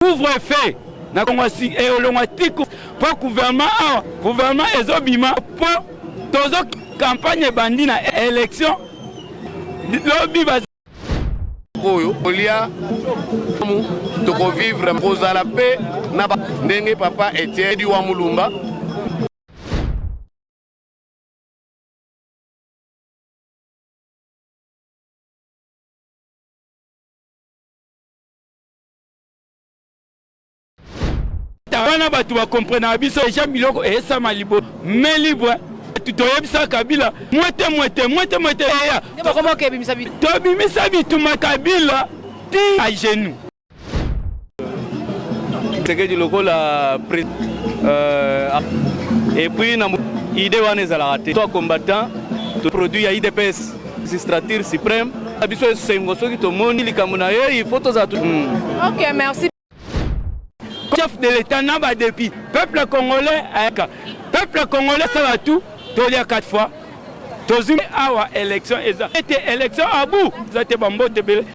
couvre feu na kongo elongwa eh, tiku mpo gouvernement awa gouvernement ezobima mpo tozo campagne ebandi na élection lobi oyo kolia tokovivre kozala mpe na ndenge papa etienne diwa mulumba wana bato bakomprenaka biso eja biloko eyesama libo me libre toyebisa kabila mwete mwete mwete mwete eya tobimisa bituma kabila ti a genou sekedi lokola euh, epuis na ide wana ezalaka te to combattant to produit ya idps magistrature supreme na biso esengo soki tomoni likambo na ye ifo tozala hmm. ok merci chef de l'état na badepuis peuple congolais ayaka peuple congolais asala tout tolia 4 fois tozwi awa élection eza ete élection abu eza te bambote ebele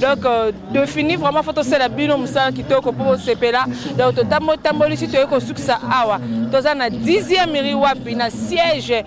donc euh, de fini vraiment fo tosala bino mosala kitoko mpo bosepela donc totambo tambolisi toyei kosukisa awa toza na 10e miri wapi na siège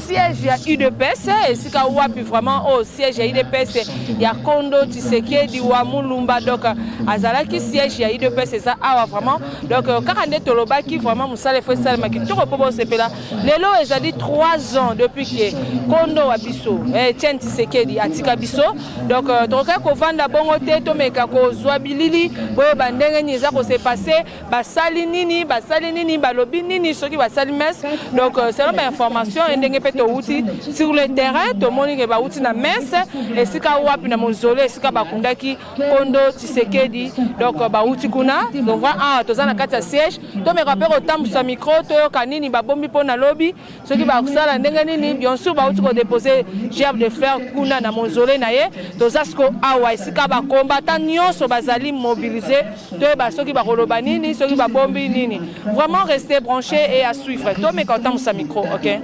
siège ya udps esika wapi vraiment oyo oh, siège ya udps ya kondo tisekedi wa mulumba donc azalaki siège ya udps eza awa vraiment donc euh, kaka nde tolobaki vraiment mosala efo esalema kitoko mpo bosepela lelo ezali 3 ans depuis ke kondo wa biso etienne eh, tisekedi atika biso donc euh, tokokaki kovanda bongo te tomeka kozwa bilili boyeba ndenge nini eza kose passe basali nini basali nini balobi nini soki basali messe donc euh, selon bainformation e ndenge mpe towuti sur le terrain tomoni ke bawuti na messe esika wapi na mozole esika bakundaki kondo tshisekedi donc euh, bawuti kuna tova awa ah, toza na kati ya siège tomeka mpe kotambusa micro toyoka nini babombi mpo na lobi soki bakosala ndenge nini bien sûr bauti kodepose gerbe de fer kuna na monzole na ye toza siko awa esika bakombata nyonso bazali mobilise toyeba soki bakoloba nini soki babombi nini vraiment reste branché et à suivre tomeka otambwisa micro ok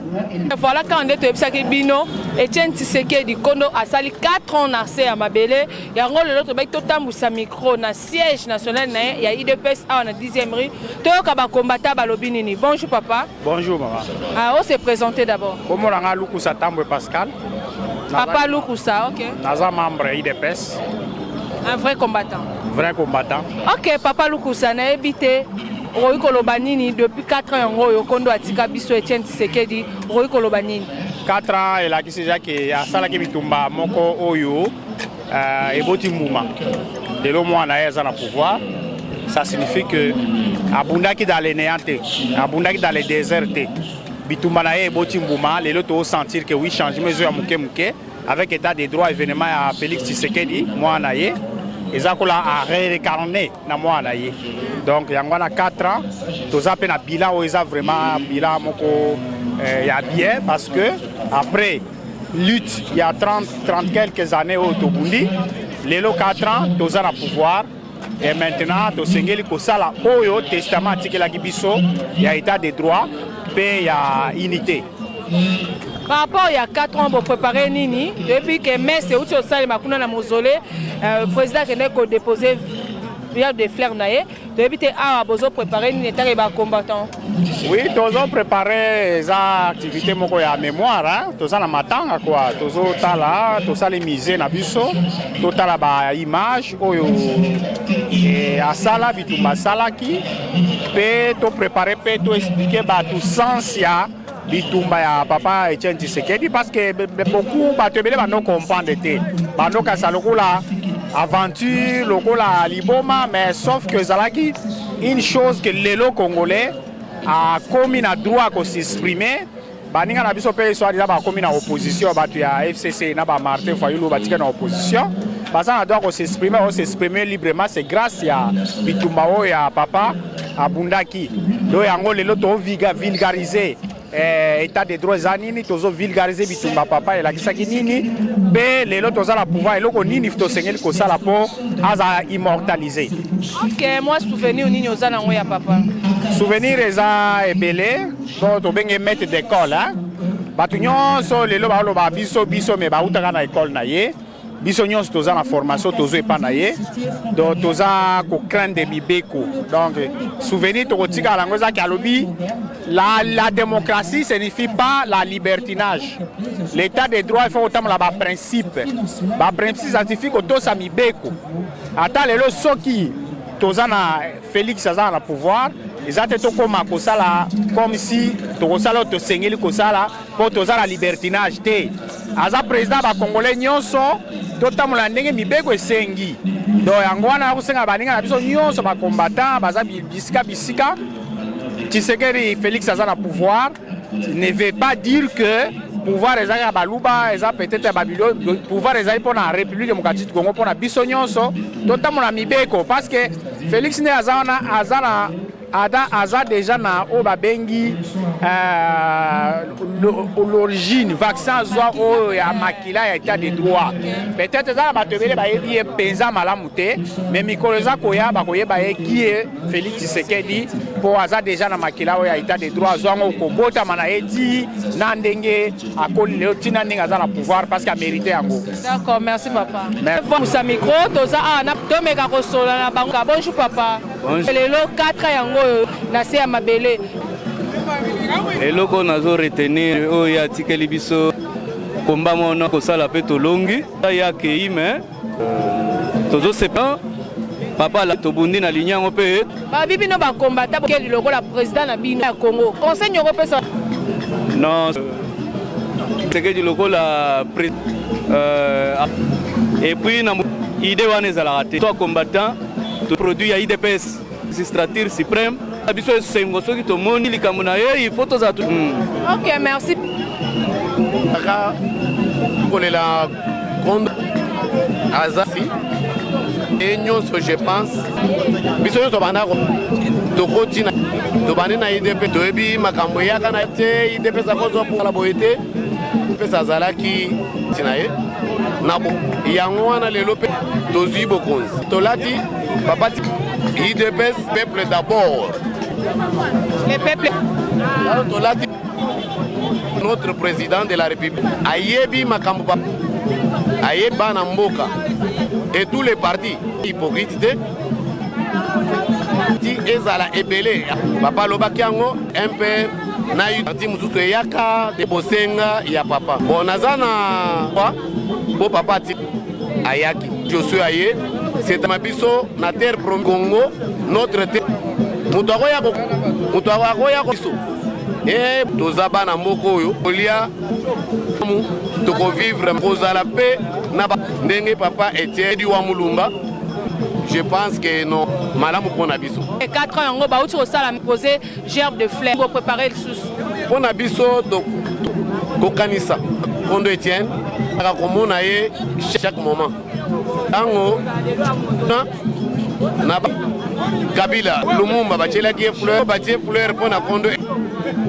voilà kaka nde toyebisaki bino etienne tisekedi kondo asali 4 ans na se ya mabele yango lelo tobaki totambwisa micro na siège national na ye ya idps awa na 10e rue toyoka bakombata balobi nini bonjour papa Bonjour maman. Ah, on s'est présenté d'abord. Comment on a Lukusa Tambwe Pascal Papa Lukusa, ok. Naza membre IDPS. Un vrai combattant. Vrai combattant. Ok, Papa Lukusa, na ebité. okoki koloba nini depuis 4 ans yango oyo kondo atika biso etienne tisekedi okoki koloba nini 4 ans elakisi eza ke asalaki bitumba moko oyo Uh, eboti mbuma lelo mwana ye aza na pouvoir ça signifie que abundaki dans le néant te abundaki dans le désert te bitumba na ye eboti mbuma lelo tosentir que oui changement ezo ya moke moke avec état de droit événement ya félix tshisekedi mwana na ye eza kola a réincarné na mwana na ye donc yango wana 4 ans toza mpe na bilan oyo eza vraiment bilan moko eh, ya bien parce que après lutte il y a 30 30 quelques années au tobundi lelo 4 ans toza na pouvoir et maintenant tosengeli kosala oyo testament atikelaki biso ya état de droit mpe ya unité par rapport ya 4 ans boprépare nini toyebi ke messe euti osalema kuna na mausolée euh, président akendeki kodépose pierre de fleur na ye toyebi te awa bozo prépare nini etaka ba combattant oui tozo prépare eza activité moko ya mémoire toza na matanga kua tozotala tosali musée na biso totala ba image oyo eh, asala bitumba asalaki mpe toprépare mpe toexplike bato sens ya bitumba ya papa Etienne Tshisekedi parce que beaucoup bato ebele bando comprendre te bando kasa lokola aventure lokola liboma mais sauf que ezalaki une chose que lelo congolais akomi na droit ko s'exprimer baninga na biso mpe soit disa bakomi na opposition bato ya fcc na ba martin fayulu batika na opposition baza na droit ko s'exprimer o s'exprimer librement c'est grâce ya bitumba oyo ya papa abundaki do yango lelo toviga vulgarise eh, état de droit eza nini tozo vulgarise bitumba papa elakisaki nini mpe lelo toza na pouvoir eloko nini tosengeli kosala mpo aza immortalise ok mwa souvenir nini oza nango ya papa souvenir eza ebele mpo tobenge maître d'école bato nyonso lelo baoloba biso biso me bautaka na ekole na ye biso nyonso toza na formation tozwa epai na ye donc toza kocraindre mibeko donc souvenir tokotikala yango ezaki alobi la, la démocratie signifie pas la libertinage l'état de droit ifo kotambola baprincipe baprincipe signifie kotosa mibeko ata lelo soki toza na félix azala na pouvoir eza te tokóma kosala comme si tokosala oyo tosengeli kosala mpo toza na libertinage te aza président ba congolais nyonso totambola ndenge mibeko esengi do yango wana akosenga baninga na biso nyonso ba combattant baza bisika bisika tshisekedi félix aza na pouvoir ne veut pas dire que pouvoir ezalaki ya baluba eza peut-être ya babilo pouvoir ezali mpo na république démocratique congo mpo na biso nyonso totambola mibeko parce que félix nde aza wana aza na Ada aza deja na oyo babengi euh, l'origine vaccin azwa oyo ya makila ya etat de droit peut-être eza na bato ebele bayebi ye mpenza malamu te me mikolo eza koya bakoyeba ye kie félix tshisekedi mpo aza deja na makila oyo ya etat de droit azwa yango kobotama na ye ti na ndenge akoli lelo ti na ndenge aza na pouvoir parce que amerite yango d'accord merci papa micro toza awa tomeka kosolola na bango bonjour papa lelo 4 yango oyo na se ya mabele eloko nazo retenir oyo ye atikeli biso komba mona kosala mpe tolongi ye akei me euh, tozosepa papa la tobundi na ligne yango mpe babi bino bakombata bokeli lokola président na bino ya congo conseil nyoko opesa non sekedi lokola euh, epuis na idée wana ezalaka te to combattant produit ya idps magistrature supreme na biso esengo soki tomoni likambo na ye il faut tozala hmm. ok merci aka kolela grande azasi ye nyonso je pense biso nyonso banda tokoti na tobandi na idp toyebi makambo eyaka na te idp sakozwa mpokala boye te mpe azalaki ntina ye na bo yango wana lelo mpe tozwi bokonzi tolati babati idps peuple d'abord le peuple tolati notre président de la république ayebi makambo ba ayebi bana mboka et tous les partis hypocrite te ti ezala ebele bapalobaki yango mpe na parti mosusu eyaka te bosenga ya papa bon naza na po papa ati ayaki josue aye setama biso na terre pro congo notre te moto akoya moto akoya biso e toza bana mboka oyo kolia tokovivre kozala mpe na ndenge papa etienne diwa mulumba je pense que non malamu mpo na biso 4 ans yango bauti kosala pose gerbe de fleur bo préparer lisusu mpo na biso kokanisa kondo etienne aka komona ye chaque moment ntango na kabila lumumba batyelaki ye fleur batye fleur mpo na kondo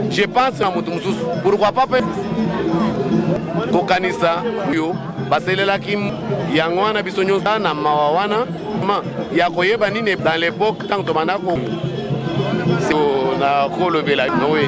je pense na moto mosusu pourkoi pas mpe kokanisa oyo baselelaki yango wana biso nyonso na mawa wana Ma, ya koyeba nini dans l'époque ntango tobanda ko na kolobela noe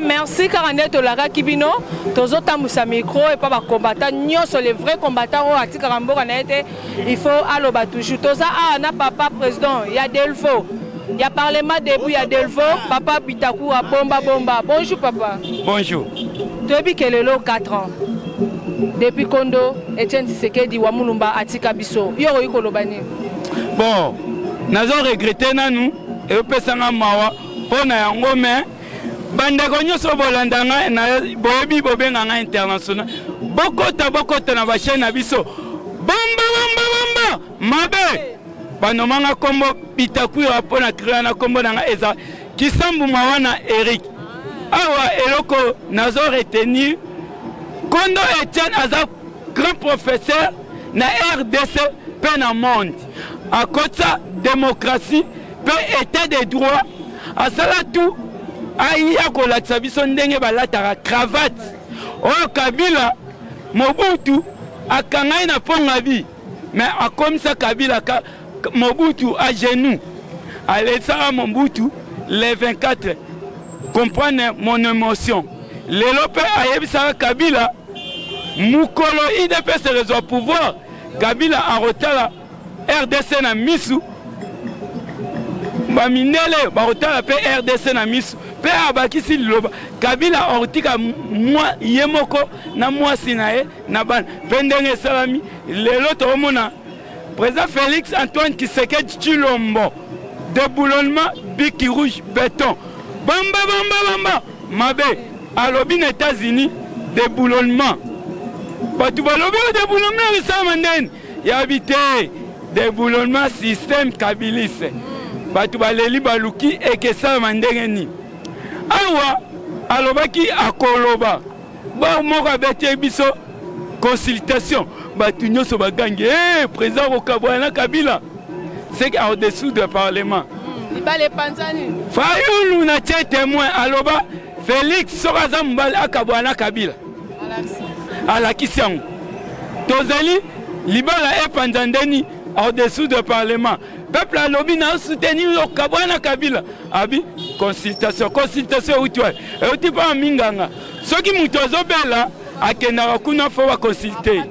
merci kaka nde tolakaki bino tozotambwisa micro epa bakombata nyonso le vrai kombata oyo atikaka mboka na ye te il faut aloba toujours toza awa na papa président ya delvo ya parlement debout ya delvaux papa bitakura bomba bomba bonjour papa bonjour toyebi ke lelo 4 ans depuis kondo etienne tshisekedi wa mulumba atika biso yo okoki koloba nini bon nazo regrete nanu eyopesa nga mawa mpo na yango me bandeko nyonso bolanda ngai boyebi bobenga ngai international bokota bokota na bachaine na biso bomba bomba bomba mabe banoma nga kombo bitakwira mpo na krela na kombo na nga eza kisambu mawa na eric awa eloko nazo retenir kondo etienne aza grand professeur na rdc mpe na monde akotisa demokratie mpe etat de droit asala tu aya kolatisa biso ndenge balataka cravate oyo kabila mobutu akangai na mpongabi Mais akomisa Kabila ka, Mobutu à genoux. Alesaka Mobutu le 24. Comprendre mon émotion. Lelo pe ayebisaka Kabila mukolo IDPS ezwa pouvoir, Kabila akotala RDC na misu bamindele bakotala mpe rdc na miso mpe abakisi liloba kabila akotika ye moko na mwasi na ye na bana mpe ndenge esalami lelo tokomona président félix antoine kisekedi chilombo deboulonnement biki rouge beton bamba bamba bamba mabe alobi na états-unis deboulonnement bato balobi o oh, deboulonnement esalama ndeni yabi te deboulonnement système kabilise bato baleli baluki ekesalama ndenge nini awa alobaki akoloba Bor moko abeteli biso consultation bato nyonso bagangi e eh, président kokabwana na kabila seke au-dessous de parlement libala epanzani fayulu na tie témoin aloba félix soki aza mobali akabwana na kabila alakisi yango tozali libala epanza ndeni au-dessous de parlement peuple alobi na soutenir yo kabwana kabila abi consultation consultation euti wapi euti mpa minganga soki moto azobela akendaka kuna fo baconsulte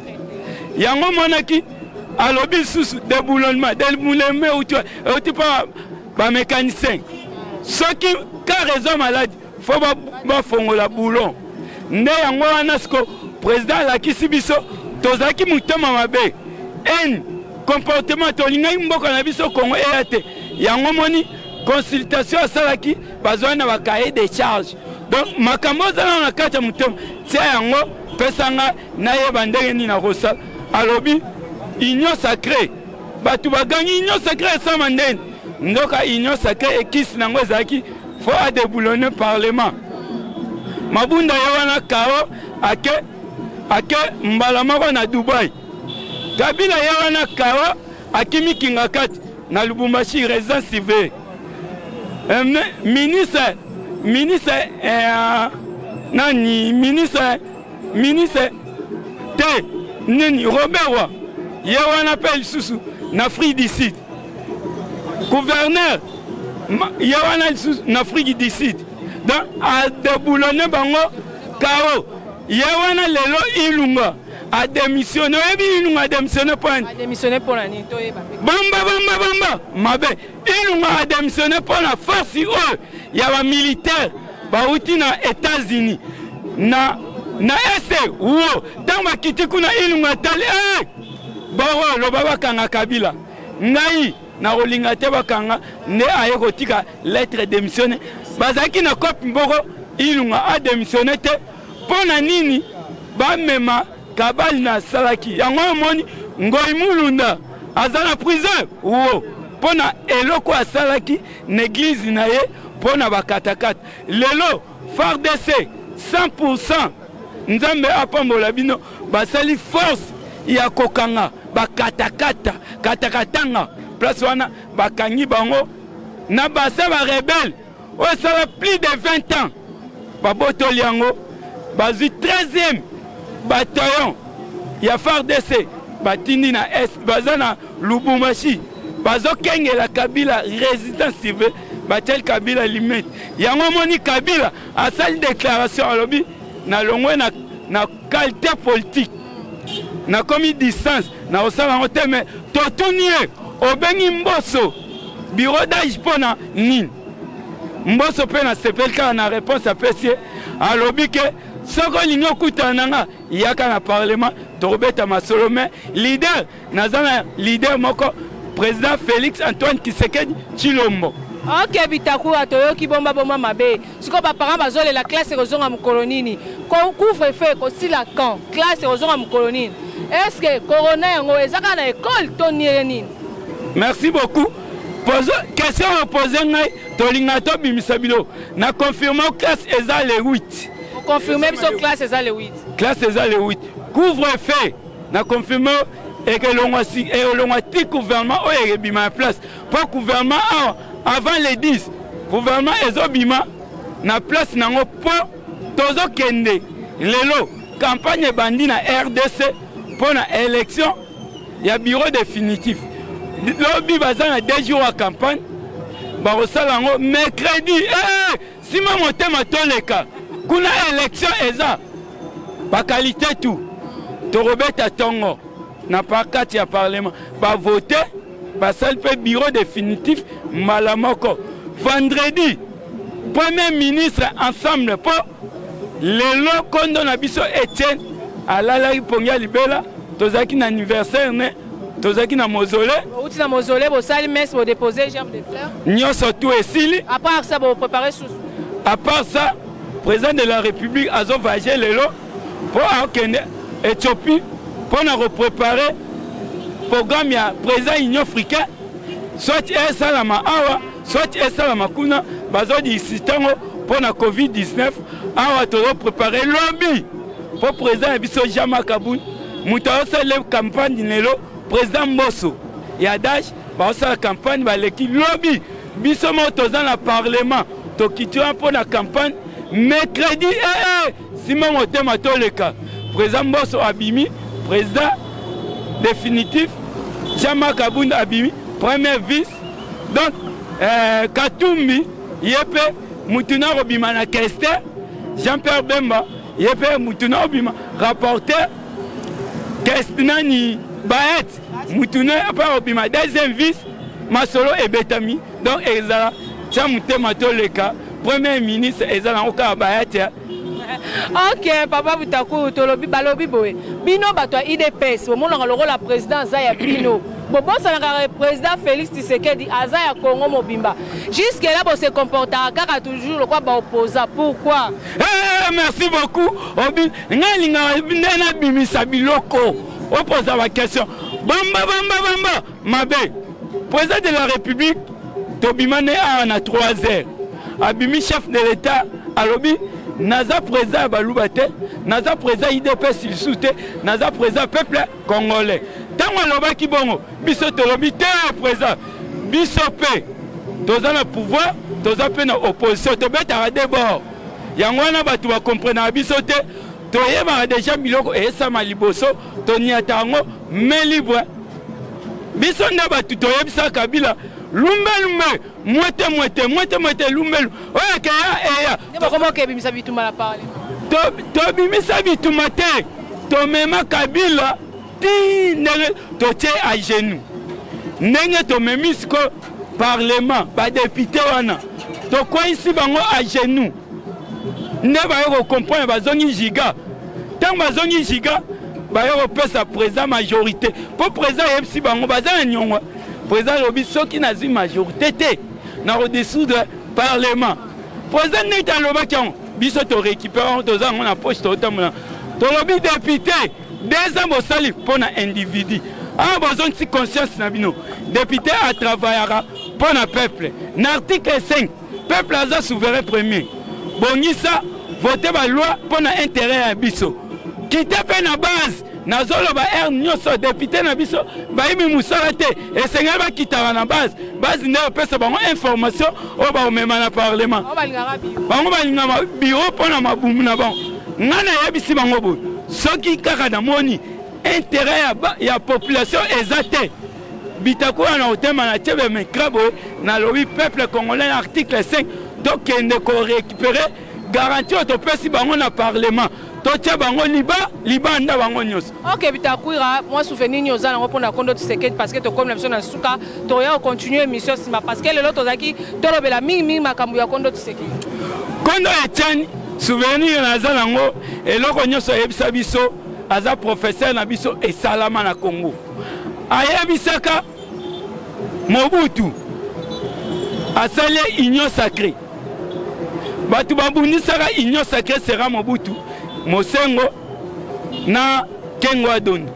yango omonaki alobi lisusu deboulonnement deboulonnement euti euti mpa bamécanicien soki kare eza maladi fo bafongola boulon nde yango wana siko président alakisi biso tozalaki motema mabe ene comportement tolingaki mboka na biso kongo eya te yango moni consultation asalaki bazwani na ba cahier de charge donc makambo ozala na kati ya motema tia yango pesa nga nayeba ndenge nini nakosala alobi union sacré bato bagangi union sacré esama ndeni ndoka union sacré ekisi na yango ezalaki fo adeboulonne parlement mabunda ye wana kao ake ake mbala moko na dubai kabila ye wana kao akimi kingakati na lubumbashi residence civile Eh, ministre ministre eh, nani ministre ministre te nini robert wa ye wana mpe lisusu na afrique du sud gouverneur ye wana lisusu na afrique du sud donc adeboulone bango kao ye wana lelo ilunga ademissione oyebi ilunga ademissione mpo nani bomba bomba bomba mabe Ilunga a demissionne mpo na force oyo ya ba militaire bauti na Etats-Unis na na este wo ntango bakiti kuna Ilunga atali hey! Eh! boko loba bakanga Kabila ngai nakolinga te bakanga nde aye kotika lettre demissionne bazalaki na kopi mboko Ilunga a demissionne te mpo na nini bamema Kabali na salaki yango omoni Ngoy Mulunda aza na prison wo mpo na eloko asalaki na eglize na ye mpo na bakatakata lelo fardc 100 nzambe apambola bino basali force ya kokanga bakatakata katakatanga place wana bakangi bango na basa barebele oyo esala plus de 20 ans babotoli yango bazwi 13e bataillon ya fardc batindi na est baza na lubumashi bazokengela kabila résidence civile batiali kabila limete yango omoni kabila asali déclaration alobi nalongwe na, na Qualité politique nakomi distance nakosala yango te me totuni ye obengi mboso bureau d'age mpo na nini mboso mpe nasepeli kaka na réponse apesi ye alobi ke soki olingi okutana na nga yaka na parlement tokobeta masolo me leader Naza na leader moko président Félix Antoine Tshisekedi Tshilombo. Ok Bitakura toyoki bomba bomba mabe. Siko ba parents bazolela classe ekozonga mokolo nini? Ko couvre feu ekosila quand? Classe ekozonga mokolo nini? Est-ce que corona yango eza kaka na école to niele nini? Merci beaucoup. Pozo question opose ngai tolinga tobimisa bilo na confirme classe eza le 8. Confirme biso classe eza le 8. Classe eza le 8. Couvre feu na confirme eke elongwa si eh, elongwa ti gouvernement oyo ekebima ya place mpo gouvernement awa avant le 10 gouvernement ezobima na place na yango mpo tozokende lelo campagne ebandi na rdc mpo na élection ya bureau définitif lobi baza na deux jours ya campagne bakosala yango mercredi eh! Sima motema toleka kuna election eza bakalite tu tokobeta tongo na kati ya parlement bavote basali mpe bureau définitif mbala moko vendredi premier ministre ensemble mpo lelo kondo na biso etienne alalaki mpongi ya libela tozalaki na anniversaire ne tozalaki na mozole outi na mozole bosali messe bodepose germe de fleur nyonso tu esili à part ça boprépare susu à part ça président de la république azovage lelo mpo akende ethiopie mpo na koprépare programme ya président union africain soit esalama awa soit esalama kuna bazodisi ntango mpo na covid-19 awa tozoprépare lobi mpo president ya biso jean makabun moto aosala campagne lelo president mboso ya dash baosala campagne baleki lobi biso moko toza na parlement tokiti wana mpo na campagne mercredi ee eh, eh, sima motema toleka president mboso abimi president définitif jean marc abunda abimi premier vice donc euh, katumbi ye mpe motu na kobima na kester jean pierre bemba ye mpe mutu na obima rapporteur test nani baet mutu na mpe obima deuxième vice masolo ebetami donc ezala tya motema toleka premier ministre eza nango kaka baet ok papa butakuru tolobi balobi boye bino bato ya idps bomonaka lokola président aza ya bino bobosanaka président félix tisekedi aza ya congo mobimba jusque là bose comportaka kaka toujours lokola baopposa pourquoi Hey, merci beaucoup obi ngai lingaka nde nabimisa biloko opoza bakestion bamba bamba bamba mabe président de la république tobima nde awa na 3 heures abimi chef de l'état alobi naza président ya baluba te naza président idps lisusu te naza président peuple Congolais. Tango alobaki bongo, biso tolobi te president. Biso pe toza na pouvoir, toza pe na opposition, tobetaka de bord. Yango wana bato bakomprenaka biso te, toyebaka deja biloko eyesama liboso, toniata yango main libre. Biso nde bato toyebisaka Kabila lumbe lumbe mwete mwete mwete mwete lumbelu oyo akeya eya tobimisa bituma na parlement tobimisa bituma te tomema kabila ti ndenge totie a genou ndenge tomemi siko parlement badepute wana tokweyisi bango a genou nde baye kocomprendre bazongi giga ntango bazongi giga baye kopesa président majorité mpo président ayebisi bango baza na nyongo président alobi soki nazwi majorité te na kodesoudre parlement président neti alobaki yango biso torécupere yango toza yango na poche totambola tolobi député deux ans bosali mpo na individu awa bozongisi conscience na bino député atravaillaka mpo na peuple na article 5 Peuple aza souverain premier. Bongisa vote ba loi mpo na intérêt ya biso. Kite mpe na base nazoloba heure nyonso depute na biso bayimi mosala te esengeli bakitaka na base base nde opesa bango information oyo bakomema na parlement bango balingaka biro mpo na mabumu na bango ngai nayebisi bango boye soki kaka namoni intérêt ya, ya population eza te bitakola na otema na tshebe micra boye nalobi peuple congolais na article 5 tokende korécupere garanti oyo topesi bango na parlement totya bango liba libanda bango nyonso ok bitakwira mwa souvenir nini oza nango mpona kondo tisekedi parce que tokomi na biso na nsuka toya kocontinue émission nsima parce que lelo tozalaki tolobela mingi mingi makambo ya kondo tisekedi kondo etiani souvenir naza nango eloko nyonso eyebisa biso aza professeur na biso esalama na congo ayebisaka Mobutu asali union sacrée bato babundisaka union sacrée sera Mobutu Mosengo na Kengo Adondo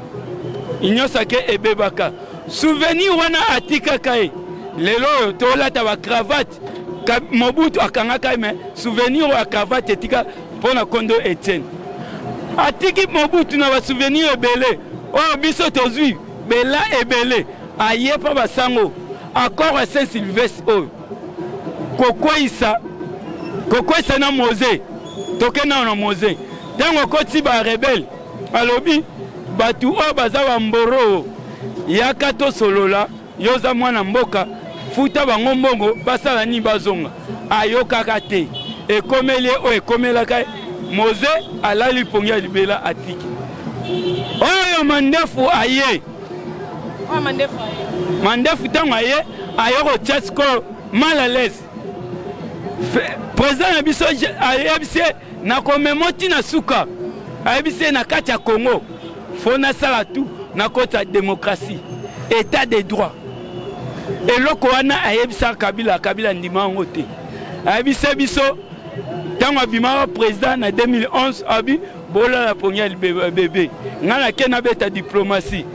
union sacrée ebebaka souvenir wana atikaka ye lelo oyo tolata bacravate mobutu akangaka ye me souvenir oyo ya cravate etika Mpo na kondo Etienne atiki Mobutu na basouvenir ebele oyo biso tozwi bela ebele aye mpo basango accord ya saint sylvestre oyo kokweisa kokweisa na mose toke nao na mose ntango akoti barebele alobi bato oyo baza bamboroo yaka tosolola Yo oza mwana mboka, futa bango mbongo basala nini bazonga. Ayokaka te. Ekomeli ye oyo ekomelaka ye. Moze alali pongi ya libela atiki. Oyo mandefu aye. Oyo mandefu aye. Mandefu ntango aye ayo kotia sikoyo mal à l'aise. Président na biso ayebisi ye na komemo ti na suka ayebisi ye na kati ya congo fo nasala tu na koti ya demokrasi etat de droit eloko wana ayebisaka kabila kabila andima yango te ayebisa biso ntango abimaka président na 2011 abi bolala pongi ya bebe ngai nake nabeta diplomatie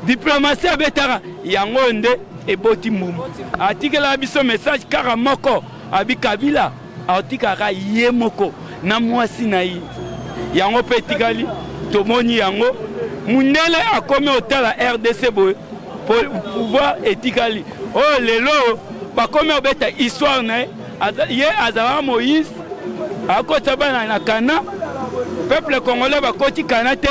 diplomatie abetaka yango oyo nde eboti mbumu atikela biso message kaka moko abi kabila Aotikaka ye moko na mwasi na ye, yango mpe etikali tomoni yango mundele akomi otala rdc boye pouvoir etikali oyo oh, lelo bakomi obeta histoire na ye ye azalaka moïse akotisa bana na kana peuple congolais bakoti kana te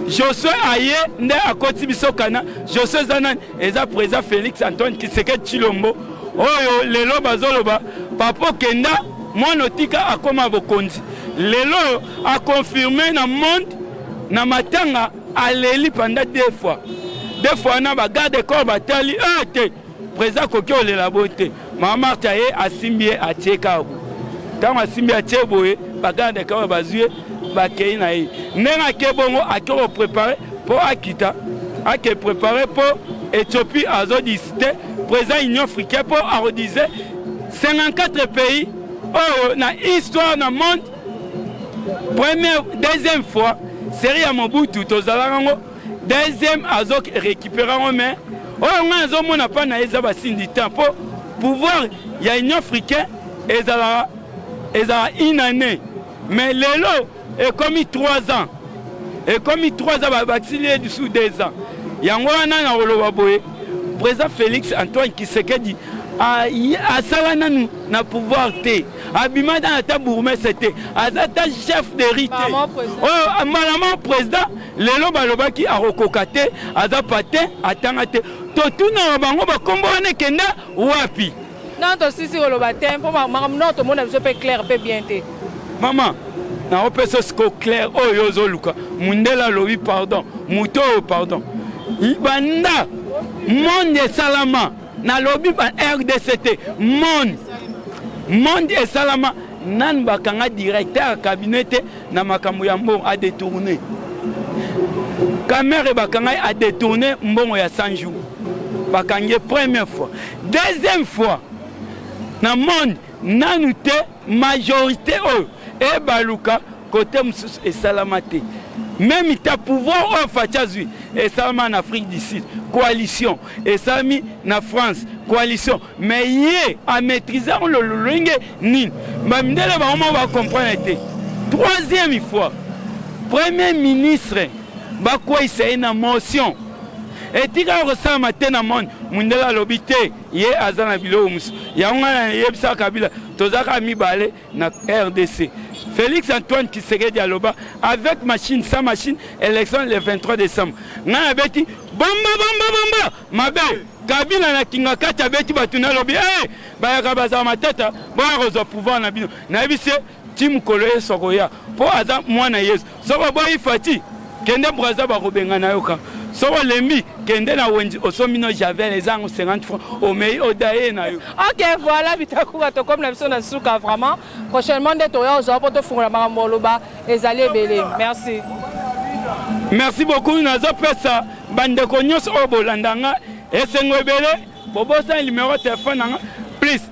josue aye nde akoti biso kana josue eza nani eza president Felix Antoine Kisekedi Chilombo oyo lelo bazoloba papa kenda mwana otika akoma bokonzi lelo akonfirme na monde na matanga aleli panda deux fois deux fois na bagarde corps batali ete eh, president akoki olela bo te Mama Marta ye asimbi ye atie kabu. Ntango asimbi atie boye baganda ya kabu bazwi ye bakei na ye. Ndenge ake bongo ake koprepare mpo akita ake prepare mpo Ethiopie azodisite président Union africaine mpo akodise 54 pays oyo na histoire na monde première deuxième fois série ya Mobutu tozalaka yango Deuxième azo récupérer yango mais oyo ngai nazomona mpa na ye eza basindi temps mpo pouvoir ya union africain ezalaka ezala une année mais lelo ekomi 3 ans ekomi 3 ans babakisili ye lisusu 2 ans yango wana na koloba boye président félix antoine kisekedi asala nanu na pouvoir te abima nanu ata bourgmestre te aza ata chef de rite oyo oh, malama président lelo balobaki akokoka te aza patin atanga te totuna na bango bakombo wana ekenda wapi non tosisi koloba te mpo makambo noko tomona biso mpe claire mpe bien te mama naopesa siko claire oyo ozoluka mundele alobi pardon moto oyo pardon banda monde esalama nalobi ba rdc te monde monde esalama nanu bakanga directeur ya cabinet te na makambo ya mbongo adetourne kamere bakanga ye adetourne mbongo ya 100 jour bakangi ye première fois deuxième fois na monde nanu te majorité oyo ebaluka Kote mosusu esalama te. Meme ta pouvoir oyo Fatshi azwi esalama na Afrique du Sud. Coalition esalami na France. Coalition mais ye amaîtrise yango lolenge nini? Bamindele bango moko bacomprendre te. Troisième fois, premier ministre bakweisa ye na motion etikala kosalama te na monde mondele alobi te ye aza na biloko mosusu yango ngai nayebisaka kabila tozalaka mibale na rdc félix antoine kisekedi aloba avec machine sans machine élection le 23 décembre ngai abeti bomba bomba bomba mabe kabila na kingakati abeti bato na alobi hey, bayaka bazala matata boya kozwa pouvoir na bino nayebisi ye ti mokolo yesu akoya mpo aza mwana yesu Soki oboyi Fati, kende Brazza bakobengana yo ka. Soki olembi, kende na Wenzi osombi no Javel eza yango 50 francs, omei odaye na yo. Ok, voilà Bitakuba tokomi na biso na suka vraiment. Prochainement nde toya ozwa mpo tofungola makambo oloba ezali ebele. Merci. Merci beaucoup nazopesa bandeko nyonso oyo bolanda nga esengo ebele bobosani numero ya telefone na nga please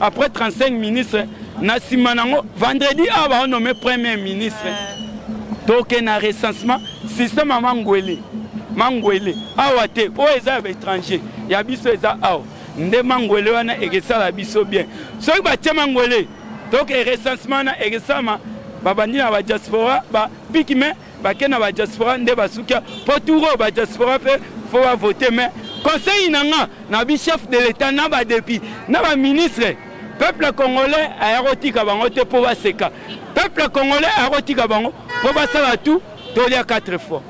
après 35 ministre na nsima nango vendredi awa baonome premier ministre toke na recensement système ya mangwele mangwele awa te oyo eza ya baétranger ya biso eza awa nde mangwele wana ekesala biso bien soki batie mangwele toke recensement wana ekesalama babandi na badiaspora bapiki me bake na badiaspora nde basukia mpo tour oyo badiaspora mpe fo bavote mai conseil na nga na bi chef de l'etat na badepi na baministre peuple congolais aya kotika bango te mpo baseka peuple congolais aya kotika bango mpo basala tout tolia 4 fois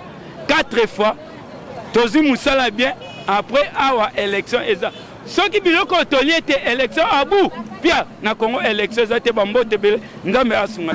4 fois tozwi mosala bien après awa élection eza soki biloko oyo tolie te election abu pia na congo election eza te bambote ebele nzambe asunga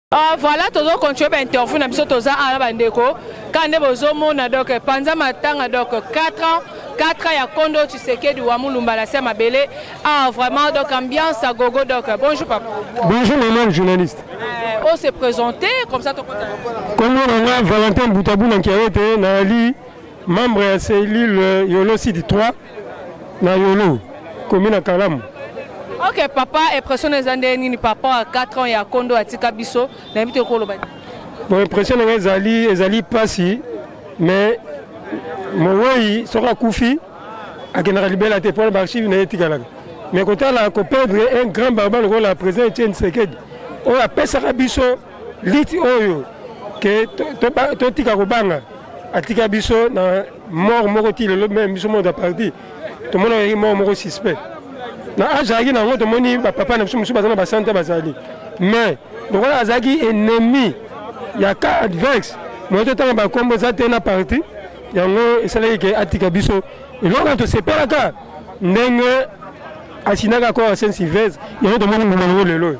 Uh, voilà tozo continue ba interview na biso toza ala bandeko kaka nde bozomona donc panza matanga donc 4 ans 4 ans ya kondo tshisekedi wa mulumba na se ya mabele ah vraiment donc ambiance à gogo donc bonjour papa bonjour maman le journaliste euh, on s'est présenté comme ça tokota kombo na nga valentin butabuna nkiawete nayali membre ya cellule euh, yolo sidi 3 Na Yolo, commune ya Kalamu. Ok papa, impression eza nde nini par rapport à 4 ans ya kondo atika biso na yebi te okoloba. Bon impression na ngai ezali ezali pasi mais mowei soki akufi akendaka libela te mpona baarchive na ye etikalaka mais kotala koperdre un grand barba lokola président etienne sekedi oyo apesaka biso liti oyo ke totika kobanga atika biso na mort moko ti lelo meme biso moko aparti tomonaki mort moko suspect na age azalaki na yango tomoni bapapa na biso mosusu baza na basante bazali mais lokola azalaki ennemi ya cas adverse moye totanga bakombo eza te na parti yango esalaki ke atika biso eloko na tosepelaka ndenge asinaka akora saint sylvestre yango tomoni mbuma yango lelo oyo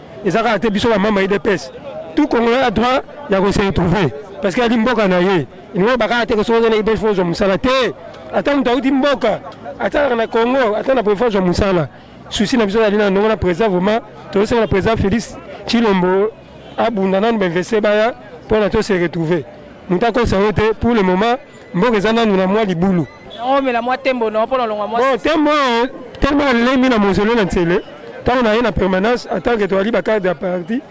eza kaka te biso ba mama idps tout congolais a droit ya ko se retrouver parce que ali mboka na ye ilingo bakaka te soki ozana idps fozwa mosala te ata moto auti mboka ata kaka na congo ata na prefa zwa mosala susi na biso ezali na ndongo na président vraiment tozosenga na président félix chilombo abunda nanu bainveste baya mpona to se retrouver moto akosa yo te pour le moment Mboka eza nanu na mwa libulu. Yango mela mwa tembo na pona longwa mwa. Bon tembo tellement alelemi na mausolée na Nsele ntango na ye na permanence en tant que toyali bacarte ya parti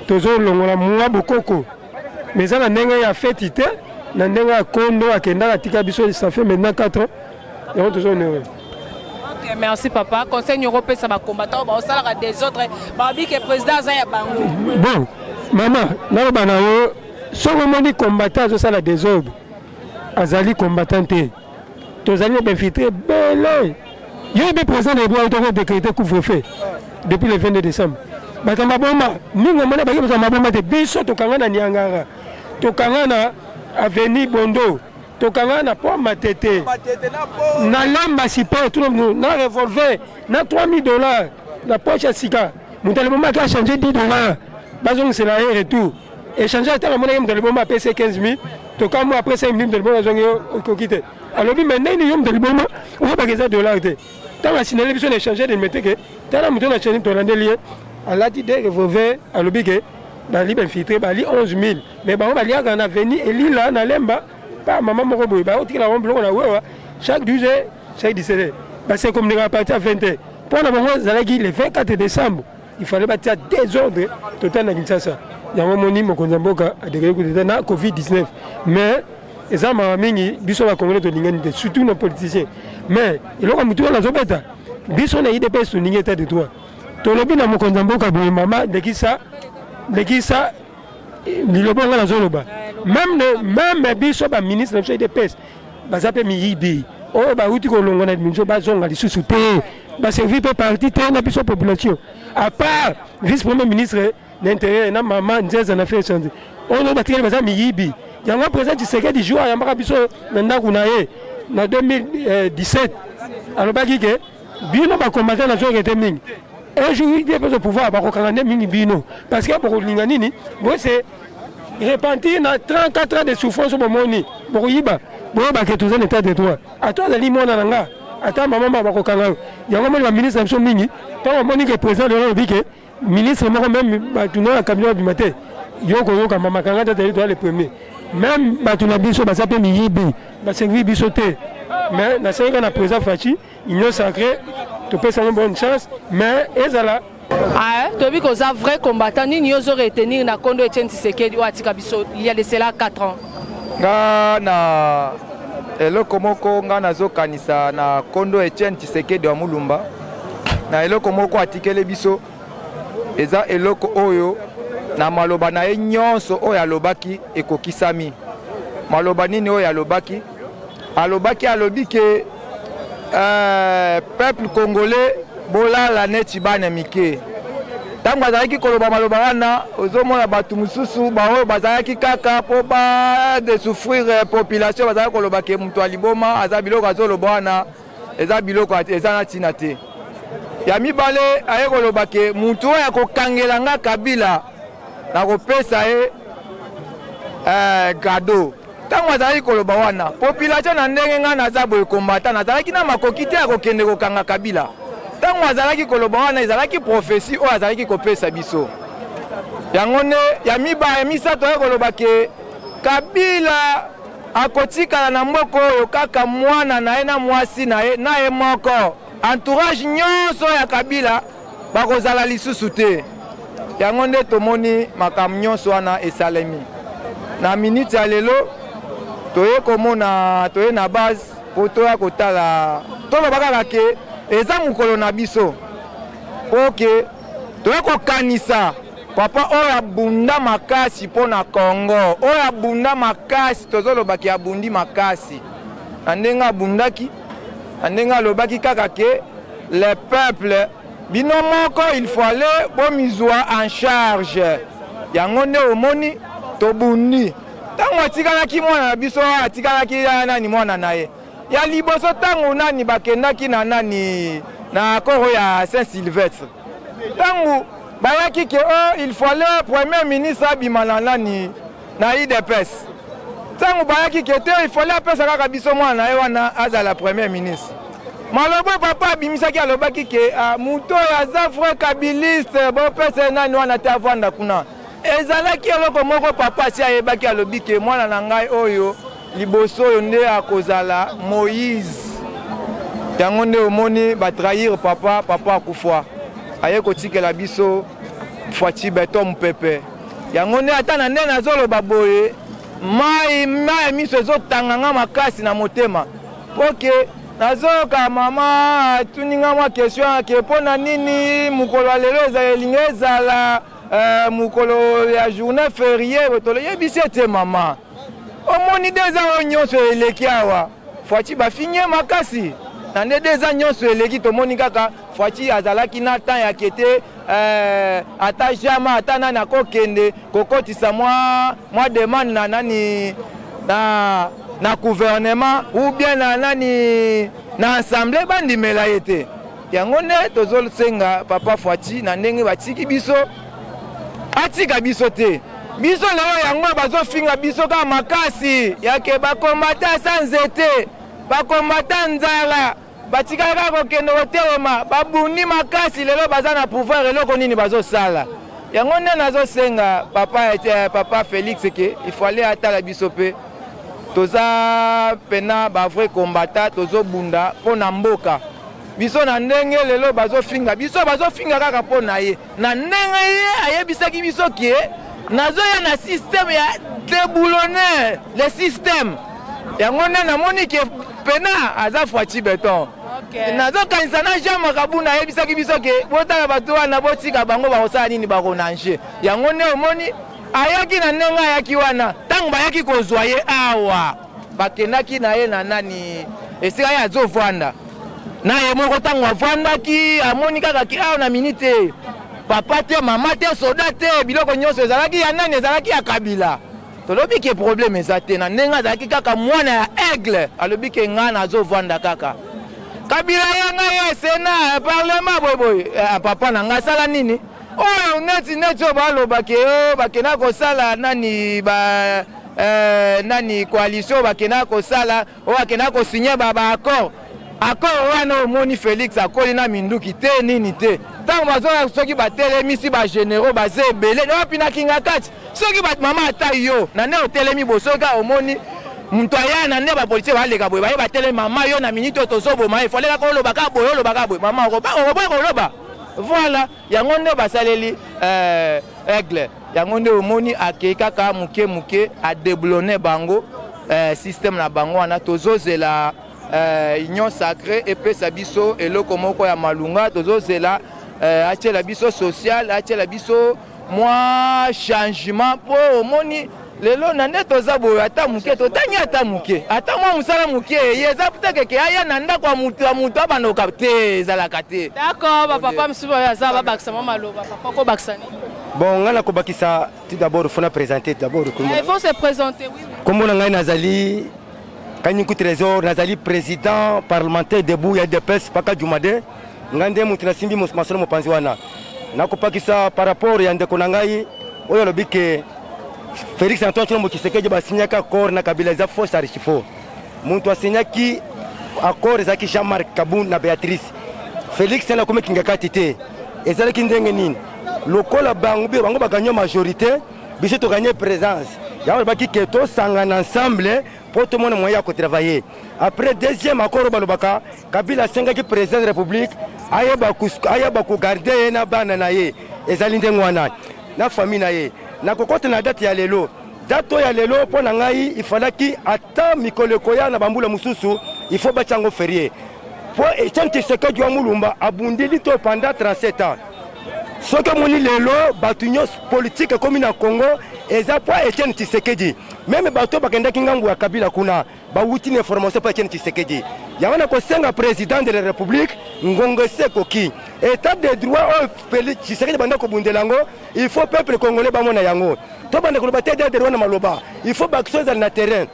tozolongola mwa bokoko mais eza na ndenge ya feti te na ndenge ya kondo akendaka atika biso ça fait maintenant 4 ans yango tozonere Okay, merci papa conseil nyoko opesa bacombattant baosalaka des autres baobi ke président aza ya bango bon mama naloba na yo soki omoni combattant azosala desordre azali combattant te tozali na bainfiltre ebele yo ebe président na ebwa toko décrété couvre-feu depuis le 22 décembre bato maboma mingi omona baki bato maboma te biso tokanga na niangara tokanga na avenue bondo tokanga na po matete na lamba sipa tuna na revolver na 3000 dollars na poche ya sika moto alibomaki achange 10 dollars bazongisela ye retour Echange ata namonaki moto liboma apesi 15 000 tokamwa après 5 000 moto liboma azwangi yo okoki te alobi me ndenge yo moto liboma oyebaka eza dollar te ntango asinale biso na echange de mete ke tala moto na chani tolandeli ye alati de revolver alobi ke bali bainfiltre bali 11 000 me bango baliaka na veni elila na lemba pa mama moko boye baotikela bango biloko na wewa chaque 12 heures chaque 17 heures base communiquaka parti ya 20 heures mpo na bango ezalaki le 24 décembre il fallait batia desordre total na kinshasa yango moni mokonzi ya mboka adekeli kudeta na covid 19 mais eza mawa mingi biso bakongole tolingani te surtout na politicien mais eloko ya motu wana azobeta biso na idps tolingi etat de droit tolobi na mokonzi ya mboka boye mama lekisa lekisa eh, liloba nga nazoloba meme biso baministre na biso idps baza mpe miyibi oyo bauti kolongo na binso bazonga lisusu te baservi mpe parti te na biso population à part vice premier ministre na intérieur na mama nzeza na feu change oyo batikali baza miyibi yango président tshisekedi jour ayambaka biso na ndako na ye na 2017 alobaki ke bino ba combattant na zoke te mingi un jour il dépose au pouvoir bakokanga nde mingi bino parce que bokolinga nini bose repentir na 34 ans de souffrance bomoni bokoyiba boyebake toza na état de droit ata azali mwana na nga ata mama bakokanga yo yango moni baministre na biso mingi ntango amoni ke président lelo alobi ke Ministre moko meme bato na cabinet babima te yo koyoka mama kanga tata yeli toya le premier meme bato na biso baza mpe miyibi baservi biso te mais nasengi kaka na président faci union sacré topesa yango bonne chance mais ezala Ah, tobi koza vrai combattant nini yo ozo retenir na kondo Etienne Tshisekedi oyo atika biso il y a de cela 4 ans nga na eloko moko nga nazokanisa na kondo Etienne Tshisekedi wa Mulumba na eloko moko atikeli biso eza eloko oyo na maloba na ye nyonso oyo alobaki ekokisami. Maloba nini oyo alobaki? Alobaki alobi ke euh, peuple congolais bolala neti bana mike. Ntango azalaki koloba maloba wana, ozomona bato mosusu baoyo bazalaki kaka mpo badesouffrir euh, population, bazalaki koloba ke moto ya liboma aza biloko azoloba wana eza biloko eza na ntina te ya mibale aye koloba ke motu oyo akokangela nga kabila nakopesa ye eh, gado ntango azalaki koloba wana population na ndenge ngai naza boye kombata nazalaki na makoki te ya kokende kokanga kabila ntango azalaki koloba wana ezalaki profesi oyo azalaki kopesa biso yango nde ya miba ya misato aye koloba ke kabila Akotikala na mboka oyo kaka mwana na ye na mwasi na ye na ye moko. Entourage nyonso ya Kabila bakozala lisusu te. Yango nde tomoni makambo nyonso wana esalemi. Na minute ya lelo toye komona toye na base mpo toya kotala toloba kaka ke eza mokolo na biso oke toye kokanisa papa oyo abunda makasi mpo na congo oyo abunda makasi tozolobaki abundi makasi na ndenge abundaki na ndenge alobaki kaka ke le peuple bino moko il faut aller bomizwa en charge yango nde omoni tobundi ntango atikalaki mwana na biso atikalaki ya nani mwana na ye Ya liboso ntango nani bakendaki na nani na akoro ya Saint Sylvestre, ntango bayaki ke oh, il fallait premier ministre abima na nani na IDPS, ntango bayaki ke te il fallait apesa kaka biso mwana na ye wana azala premier ministre malobo papa abimisaki alobaki ke ah, moto oyo aza vrai kabiliste bopesa ye nani wana te avanda kuna ezalaki eloko moko papa asi ayebaki alobi ke mwana na ngai oyo liboso oyo nde akozala moïse yango nde omoni batrahir papa papa akufa aye kotikela biso fwaci beton mopepe yango nde ata na nde nazoloba boye mai mai miso ezotanga nga makasi na motema mpo ke nazoyoka mama atuni nga mwa question ake mpo na nini mokolo ya lelo elingi ezala Eh, mokolo ya journée ferie toyebisi ete mama omoni deza oyo nyonso eleki awa fwaci bafinye makasi na nde deza nyonso eleki tomoni kaka fwaci azalaki na temps ya kete eh, ata jama ata nani akokende kokotisa mwa, mwa demande na nani na, na gouvernement ou bien na nani na assemblée bandimela ye te Yango nde tozosenga papa Fwati na ndenge batiki biso, atika biso te. Biso lelo yango bazofinga biso kaka makasi yake bakombata sa nzete, bakombata nzala, batikala kaka kokende kotelema, babundi makasi. Lelo baza na pouvoir, eloko nini bazosala? Yango nde nazosenga papa, eh, papa Felix ke ifale atala biso mpe toza pena ba vrai combattant tozobunda mpo na mboka biso na ndenge lelo bazofinga biso bazofinga kaka mpo na ye na ndenge ye ayebisaki biso ke nazoya na systeme ya deboulonner le systeme yango nde namoni ke pena aza fwaci beton okay. nazokanisa na jean makabuna ayebisaki biso ke botala bato wana botika bango bakosala nini bakonange yango nde omoni Ayaki na ndenge ayaki wana, ntango bayaki kozwa ye awa, bakendaki na ye na nani, esika ye azovanda na ye moko. Ntango avandaki, amoni kaka ki awa na minite, papa te, mama te, soda te, biloko nyonso ezalaki ya nani? Ezalaki ya Kabila. Tolobi ke probleme eza te, na ndenge azalaki kaka mwana ya aigle, alobi ke ngai nazovanda kaka kabila yanga ye sena parlement boyeboye eh, papa na ngai asala nini oyo neti neti oyo baloba ke oh, bakenda kosala nani ba euh, nani coalition bakenda kosala oyo bakenda kosigne ba baaccord accord wana omoni félix akoli na minduki te nini te ntango bazoya soki batelemisi bagénéraux baza ebele na wapi na kingakati soki mama ata yo na nde otelemi bosoka omoni moto aya na nde bapolitike baleka boye baye batelemi mama yo na miniti oyo tozoboma efalelaka oloba kaka boye oloba kaka boye mama okoboya koloba Voilà, yango nde basaleli euh, aigle yango nde omoni akei kaka moke moke adeblone bango euh, système na bango wana tozozela euh, union sacré epesa biso eloko moko ya malunga tozozela euh, atyela biso social atyela biso mwa changement mpo omoni lelo na nde toza boye ata moke totangi ata moke ata mwa mosala moke eye eza putekeke aya na ndako ya moto ya moto abanoka te ezalaka te d'accord bapapa mosusu oyo aza babakisa mwa maloba papa kobakisa nini bon ngai nakobakisa tout d'abord fona présente d'abord kombo na ngai nazali kanyuku trésor nazali président parlementaire debout ya dps paka jumade Ngai nde moto nasimbi masolo mopanzi wana nakopakisa par rapport ya ndeko na ngai oyo alobi ke Felix Antoine Tshilombo Tshisekedi basinyaki accord na Kabila eza faux charge faux. Moto asinyaki accord ezalaki Jean-Marc Kabund na Beatrice. Felix tena akomi kingakati te. Ezalaki ndenge nini? Lokola bango be bango baganye majorité, biso toganye présence. Yango alobaki ke tosangana ensemble mpo tomona moyen ya kotravailler. Après deuxième accord balobaka Kabila asengaki president de republique ayeba kogarde ye na bana na ye ezali ndenge wana na famille na ye nakokota na date ya lelo date oyo ya lelo mpo na ngai ifalaki ata mikolo ekoya na bambula mosusu ifo batya yango ferie mpo etienne tshisekedi wa mulumba abundi lito panda 37 ans soki omoni lelo bato nyonso politike ekomi na congo eza mpo etienne tshisekedi meme bato oyo bakendaki ngambo ya kabila kuna bawuti na information mpo ya Etienne Tshisekedi. Yango na kosenga president de la republique ngongo esi ekoki etat de droit oyo Felix Tshisekedi banda kobundela yango, il faut peuple congolais bamona yango. Tobanda koloba te etat de droit na maloba, il faut baaction ezala na terrain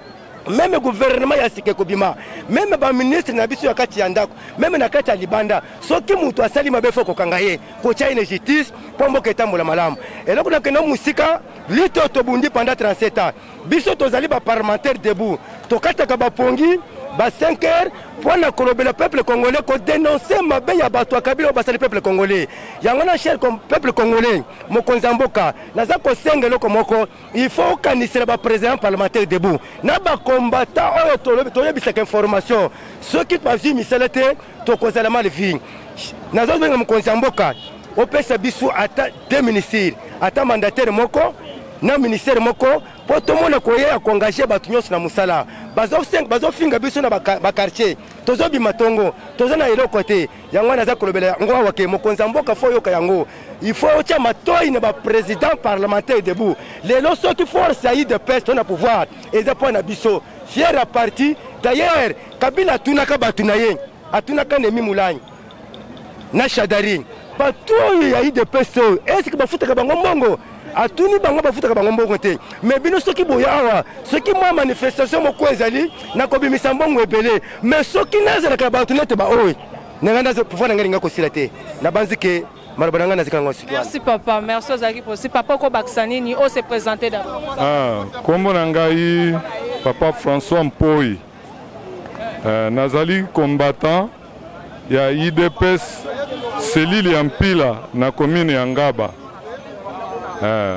meme guvernema ya sika ekobima meme baministre na biso ya kati ya ndako meme na kati ya libanda soki moto asali mabe fo kokanga ye kotya ye na justice mpo mboka etambola malamu eloko nakenda mosika lito tobundi panda 37 ans biso tozali ba parlementaire debout tokataka bapongi ba 5 heures mpo na kolobela peuple congolais kodenonse mabe ya bato ya kabila oyo basali peuple congolais yango na cher peuple congolais mokonzi ya mboka naza kosenga eloko moko il faut okanisela baprésident parlementaire debout na bakombata oyo toyebisaka information soki bazwi misala te tokozala mal vie nazobenga mokonzi ya mboka opesa biso ata deux ministre ata mandataire moko na ministère moko mpo tomona koya ya koengage bato nyonso na mosala bazofinga biso na bakartier tozobima tongo toza na eloko te yango wana aza kolobela yango awa ke mokonzi ya mboka fo oyoka yango il faut otya matoi na baprésident parlementaire debout lelo soki force ya udps to na pouvoir eza mpo na biso fier ya parti d'ailleurs kabila atunaka bato na ye atunaka nemi molangi na Shadari bato oyo ya udps oyo eske bafutaka bango mbongo atuni bango bafutaka bango mbongo te me bino soki boye awa soki mwa manifestation moko ezali nakobimisa mbongo ebele me soki nazalaka na bato nete baoyo nanga nazo pouvoir nanga linga kosila te nabanzi ke maloba na ngai nazika yango sikoyo merci papa merci ozalaki posi papa okobakisa nini o se présente d'abord ah kombo na ngai papa françois mpoi euh, nazali combattant ya idps selile ya mpila na commune ya ngaba eh.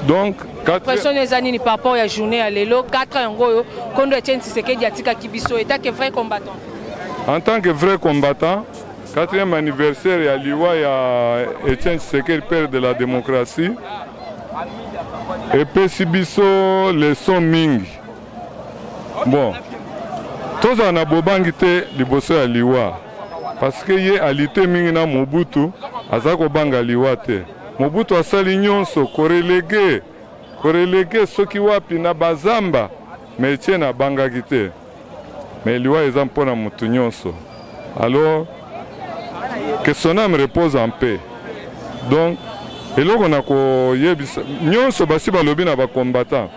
donc pression eza nini par rapport ya journée ya lelo 4 yango oyo kondo etienne tshisekedi atikaki biso etake vrai combattant en tant que vrai combattant quatrième anniversaire ya liwa ya etienne tshisekedi père de la démocratie epesi biso leson mingi Bon, tozala na bobangi te liboso ya liwa parce que ye alite mingi na Mobutu, aza kobanga liwa te. Mobutu asali nyonso korelege korelege soki wapi na bazamba, mais Etienne abangaki te. Mais liwa eza mpo na motu nyonso. Alors que son âme repose en paix. Donc eloko na koyebisa nyonso basi balobi na ba combattants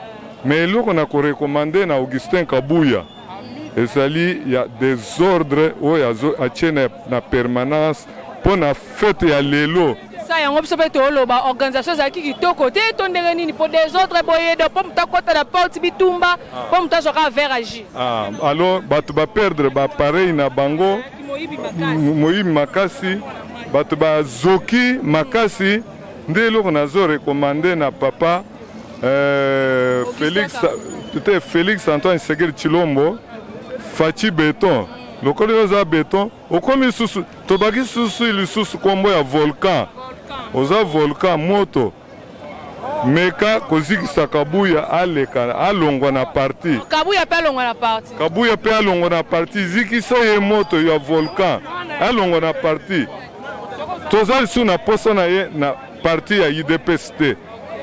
Mais eloko na ko recommande na Augustin Kabuya ezali ya desordre oyo azo atie na, na permanence mpo na fete ya lelo sa yango biso mpe toloba organisation ezalaki kitoko te to ndenge nini mpo desordre boye do mpo moto akota na porte bitumba mpo moto azwa kaka vert agi ah, alors bato baperdre bapareil na bango moyibi makasi bato bazoki makasi nde eloko nazo recommande na papa Euh, Félix, te Félix Antoine Segeri Chilombo, Fachi Beton, lokola oza beton okomi lisusu tobaki lisusu lisusu nkombo ya volcan oza volcan moto meka kozikisa kabuya aleka alongwa na parti kabuya mpe alongwa na parti kabuya mpe alongwa na parti zikisa ye moto ya volcan alongwa na parti toza lisusu na posa na ye na Parti ya UDPS te.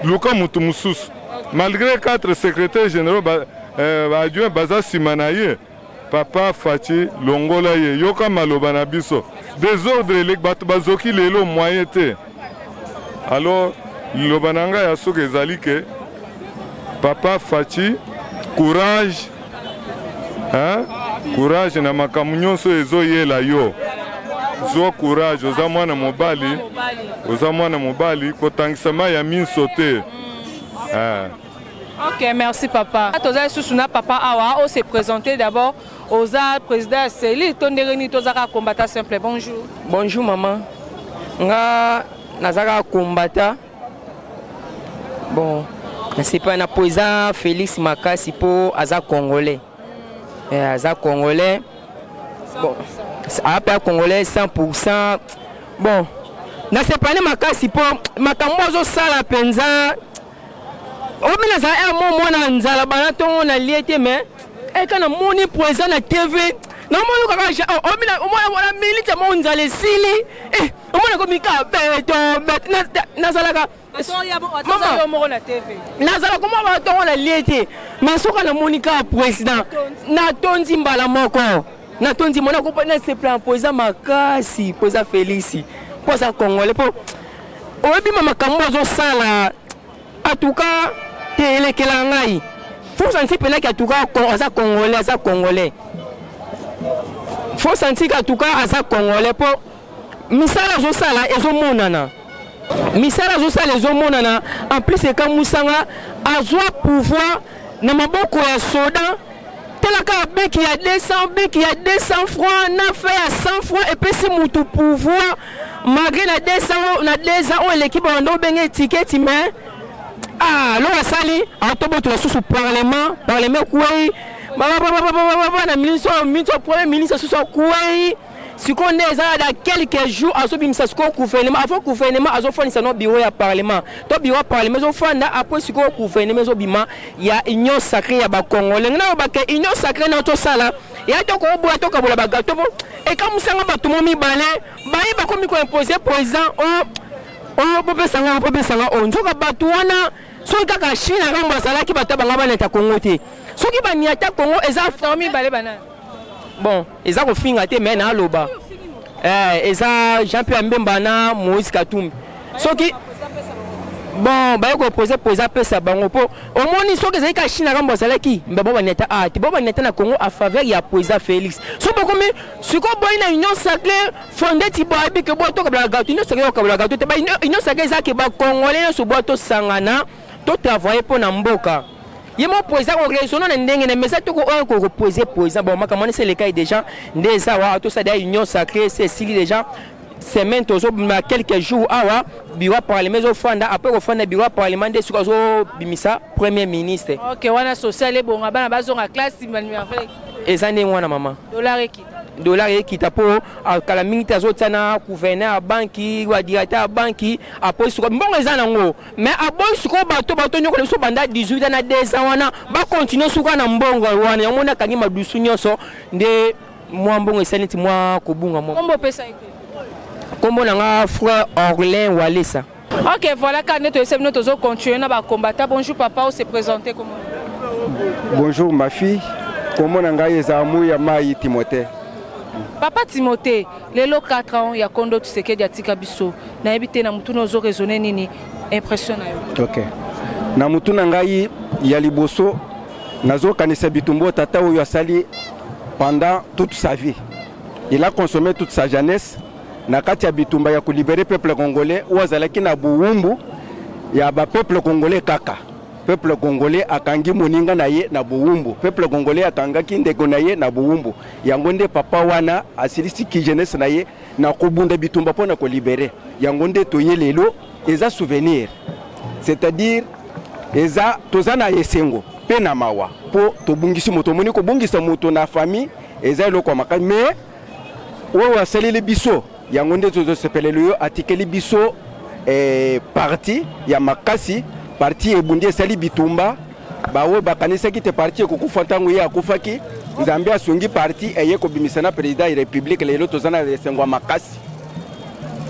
Luka mutu mususu. Malgré quatre secrétaires généraux ba, euh, ba adjoint baza sima na ye. Papa Fatshi longola ye. Yoka maloba na biso. Desordre eleki bato bazoki lelo moyen te. Alors liloba na ngai ya suka ezali ke Papa Fatshi courage hein? courage na makambo nyonso ezoyela yo zwa courage oza mwana mobali oza mwana mobali kotangisa mai ya minso te mm. eh. ok merci papa toza lisusu na papa awa ose présente d'abord oza président ya seli to ndenge nini toza kaka combata simple bonjour bonjour mama nga naza kaka combata Bon, nasepela na po eza Felix makasi po aza congolais. Eh, aza congolais. Bon, ape ya congolais 100%. Bon, nasepela na makasi po makambo azosala mpenza omi nazala ya mo mwana nzala bana ntongo nalie te mais eka eh, namoni po eza na tv namoni kaka omona minite mo nzala esili eh, omona ko mika beto nazalaka nazala koma batongo na lie te mais soka namoni kaka président natondi mbala moko natondi mona kopa nasepela mpo eza makasi mpo eza felisi mpo aza congolais mpo oyebima makambo azosala atuka te elekela ngai force anti penaki atuka aza congolais aza congolais force antika atuka aza congolais mpo misala azosala ezomonana misala azosala ezomonana en plus ekamwisanga azwa pouvoir na maboko ya soda talaka ya beki ya 200 beki ya 200 franc na fe ya 100 franc epesi motu pouvoir malgré na 200 na 2 ans oyo eleki banda obenge etiketi mais ah loka asali atobotola susu parlement parlement ekwei na ministre oyo ministre premier ministre susu akwei sikoyo nde eza ya da quelques jours azobimisa sikoyo gouvernement avant gouvernement azofandisa no bureau ya parlement to bureau ya parlement ezofanda apres sikoyo gouvernement ezobima ya union sacré ya bakongo lenge nayobake union sacré nayo tosala ya tokoboya tokabola bagato po ekamusanga bato mo mibale baye bakomi koimpose président o oh, o oh, bopesanga bopesanga o oh. nzoka bato wana soki kaka chine akambo azalaki bato ya banga baneta kongo te soki baniata kongo eza famille bale banani Bon, eza kofinga te mais naloba. Eh, eza Jean Pierre Mbemba na Moïse Katumbi. Soki bon baye kopose po eza pesa bango mpo omoni soki ezalaki kaka chine akambo azalaki mbe bobaneta a ah, te bobaneta na congo a faveur ya po eza félix so bokomi sikoyo boyi na union sacré fonde ti boyebi ke botokabola gato union sacré okabala gato te ba union sacré eza ke bacongolais nyonso bwa tosangana To travailler mpo na mboka. ye moko président ko raisonner na ndenge na mesa toko oyo ko reposer président bon makambo wana eselekai déjà nde eza wa tosala union sacrée se esili déjà semaine tozobima quelques jours awa bureau ya parlement ezofanda apres kofanda bureau ya parlement nde soki azobimisa premier ministre ok wana social ebonga bana bazonga classe eza ndenge wana mama dollar ekita dollar ekita mpo ah, kala mingi te azotia na gouverneur ya banki wa directeur ya banki apres soki mbongo eza nango mais aboyi sikoyo bato bato nyokola biso banda 18 ans na 2 ans wana bakontinue suka na mbongo wana yango moni akangi madusu nyonso nde mwa mbongo esali neti mwa kobunga mwa kombo opesa ete kombo na nga frère orlin walesa ok voilà kaka nde toyesai bino tozo continue na bacombata bonjour papa ose présente komo bonjour ma fille kombo na ngai eza muya mai timothée papa timothée Lelo 4 ans ya kondo Tshisekedi atika biso. Nayebi te na mutuna ozo raisonner nini impression na yo. OK. Na mutuna ngai ya liboso nazo kanisa bitumbo tata oyo asali pendant toute sa vie. Il a consommé toute sa jeunesse na kati ya bitumba ya kolibere peuple congolais oyo azalaki na bowumbu ya ba peuple congolais kaka. Peuple congolais akangi moninga na ye na bowumbu. Peuple congolais akangaki ndeko na ye na bowumbu. yango nde papa wana asilisi ki jeunesse na ye na kobunda bitumba mpo na kolibere yango nde toye lelo eza souvenir c'est-à-dire eza toza na esengo mpe na mawa mpo tobungisi moto omoni kobungisa moto na famille eza eloko ya makasi mais oyo asaleli biso yango nde tozosepelelo yo atikeli biso eh, parti ya makasi parti ebundi esali bitumba baoyo bakanisaki te parti ekokufa ntango ye akufaki nzambe asungi parti eye kobimisa na president ya republike lelo toza na esengo ya makasi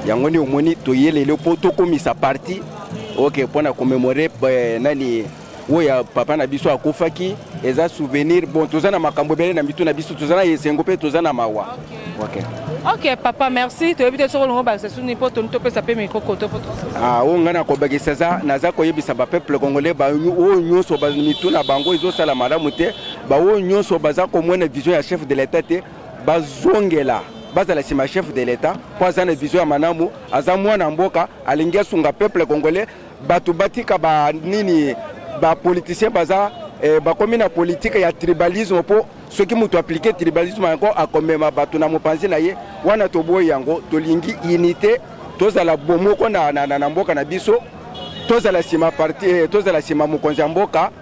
yango nde omoni toye lelo mpo tokomisa parti oke okay, mpo na komemore eh, nani oyo ya papa na biso akufaki eza souvenir bon toza na makambo ebele na mitu na biso toza na esengo mpe toza na mawa okay. ok papa merci toyebi te soki olingo bakisa suni mpo toni topesa mpe mikokoto mpo ah, oyo ngai nakobakisa eza naza koyebisa bapeuple congolais baoyo nyonso mitu na bango ezosala malamu te baoyo nyonso baza komona vision ya chef de l'etat te bazongela bazala nsima ya chef de l'etat mpo aza na vision ya malamu aza mwana mboka alingi asunga peuple congolais Bato batika ba nini ba politiciens baza eh, bakomi na politique ya tribalisme po soki moto aplike tribalisme yango akomema bato na mopanzi na ye wana toboyi yango tolingi unité tozala bomoko na, na, na, na mboka na biso tozala nsima parti eh, tozala nsima mokonzi ya mboka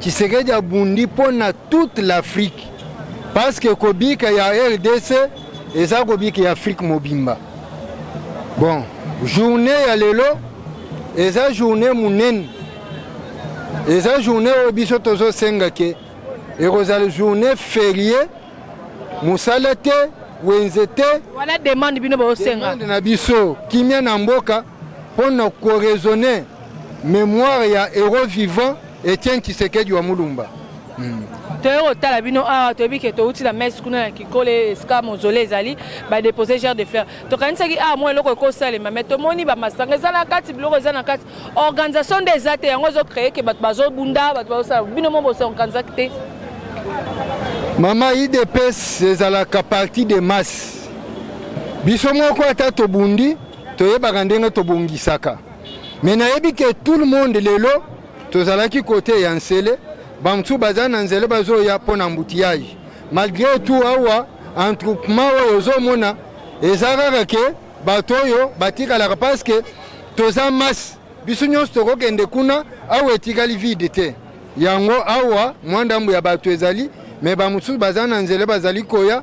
Tshisekedi abundi mpo na toute l'Afrique parce que kobika ya RDC eza kobika ya Afrique mobimba. Bon, journée ya lelo eza journée monene, eza journée oyo biso tozosenga ke ekozala journée ferie, mosala te, wenze te. Wana demande bino bosenga. Demande na biso kimia na mboka mpo na koraisonner Memoire ya heros vivant Etienne Tshisekedi wa Mulumba. Hmm. toyei kotala bino awa ah, toyebi ke touti na messe kuna na kikole esika mozole ezali badepose gere de fleur tokanisaki awa ah, mwa eloko ekosalema mai tomoni bamasanga eza na kati biloko eza na kati organisation nde eza te yango ezocreye ke bato bazobunda bato bazosala bino mo bosorganisaki te mama idps ezalaka parti de masse biso moko ata tobundi toyebaka ndenge tobongisaka Mais nayebi que tout le monde lelo tozalaki kote ya nsele bamosusu baza na nzela bazoya mpo na embouteillage malgré tout awa entroupement oyo ozomona eza kaka ke bato oyo batikalaka parce que toza masse biso nyonso tokokende kuna awa etikali vide te yango awa mwa ndambo ya bato ezali me bamosusu baza na nzela bazali koya